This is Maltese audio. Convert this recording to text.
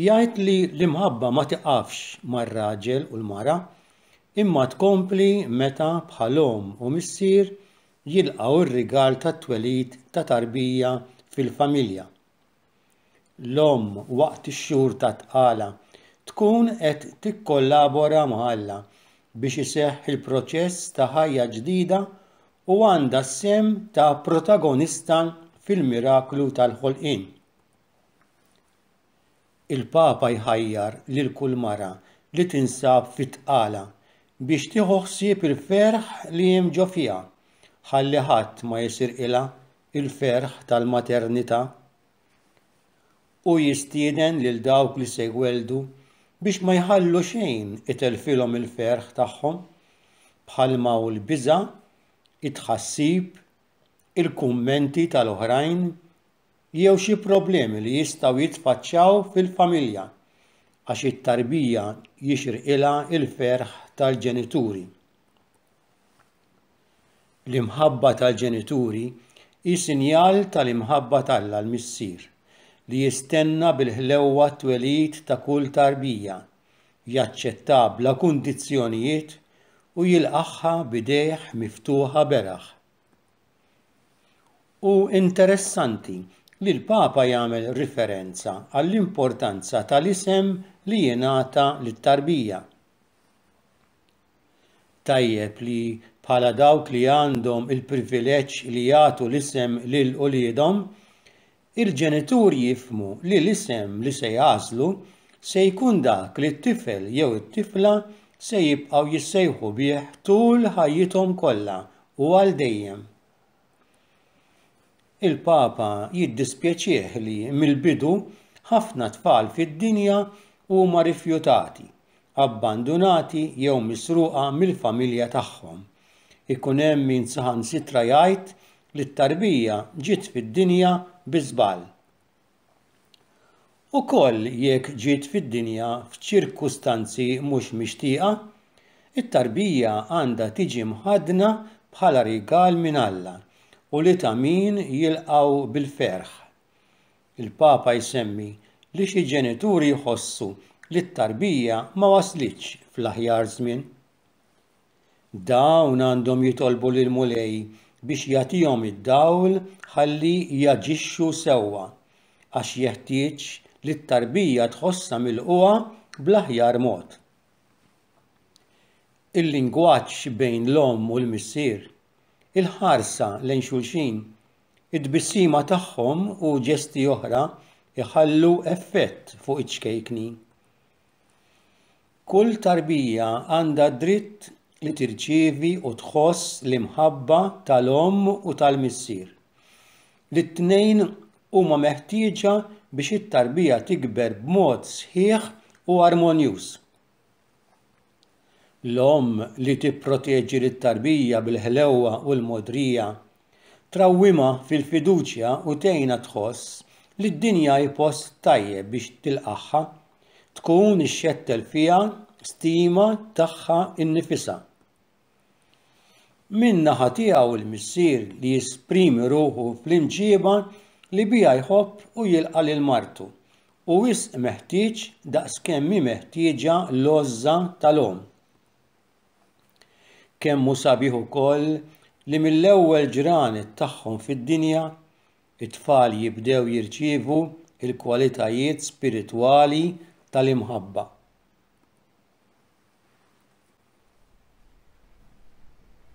Jgħid li l-imħabba ma tiqafx mar-raġel u l-mara, imma tkompli meta bħal omm u missier jilqgħu r-rigal tat-twelid ta' tarbija fil-familja. L-omm waqt ix-xhur tat-tqala tkun qed tikkollabora ma' Alla biex iseħħ il-proċess ta' ħajja ġdida u għandha s-sehem ta' protagonista fil-miraklu tal-ħolqien. Il-Papa jħajjar lil kull mara li tinsab fi tqala biex tieħu ħsieb il-ferħ li hemm ġo fiha, ħalli ħadd ma jisirqilha l-ferħ tal-maternità. Hu jistieden lil dawk li se jwelldu biex ma jħallu xejn itelfilhom il-ferħ tagħhom, bħalma hu l-biża', it-tħassib, il-kummenti tal-oħrajn, jew xi problemi li jistgħu jitfaċċaw fil-familja għax it-tarbija jixirqilha l-ferħ tal-ġenituri. L-imħabba tal-ġenituri hi sinjal tal-imħabba t'Alla l-Missier li jistenna bil-ħlewwa t-twelid ta' kull tarbija, jaċċettha bla kundizzjonijiet u jilqagħha b'idejh miftuħa beraħ. Hu interessanti li l-Papa jagħmel riferenza għall-importanza tal-isem li jingħata lit-tarbija. Tajjeb li bħala dawk li għandhom il-privileġġ li jagħtu l-isem lil uliedhom, Il-ġenituri jifhmu li l-isem li se jagħżlu se jkun dak li t-tifel jew it-tifla se jibqgħu jissejħu bih tul ħajjithom kollha u għal dejjem. Il-Papa jiddispjaċih li mill-bidu ħafna tfal fid-dinja huma rifjutati, abbandunati jew misruqa mill-familja tagħhom. Ikun hemm min saħansitra jgħid li t-tarbija ġiet fid-dinja bi żball. Ukoll jekk ġiet fid-dinja f'ċirkustanzi mhux mixtieqa, it-tarbija għandha tiġi mħaddna bħala rigal minn Alla u li ta' min jilqgħu bil-ferħ. Il-Papa jsemmi li xi ġenituri jħossu li t-tarbija ma waslitx fl-aħjar żmien. Dawn għandhom jitolbu lill-Mulej biex jagħtihom id-dawl ħalli jaġixxu sewwa, għax jeħtieġ li t-tarbija tħossha milqugħa bl-aħjar mod. Il-lingwaġġ bejn l-omm u l-missier, il-ħarsa lejn xulxin, it-tbissima tagħhom u ġesti oħra jħallu effett fuq iċ-ċkejkni. Kull tarbija għandha d-dritt li tirċievi u tħoss l-imħabba tal-omm u tal-missier. Lit-tnejn huma meħtieġa biex it-tarbija tikber b'mod sħiħ u armonjuż. L-omm li tipproteġi lit-tarbija bil-ħlewwa u l-mogħdrija Trawwimha fil-fiduċja u tgħinha tħoss li d-dinja hi post tajjeb biex tilqagħha. Tkun ixxettel fiha stima tagħha nnifisha. Min-naħa tiegħu l-missier li jesprimi ruħu fl-imġieba li biha jħobb u jilqa' lil martu, hu wisq meħtieġ daqskemm hi meħtieġa l-għożża tal-omm. Kemm hu sabiħ ukoll li mill-ewwel ġranet tagħhom fid-dinja, it-tfal jibdew jirċievu l-kwalitajiet spiritwali tal-imħabba.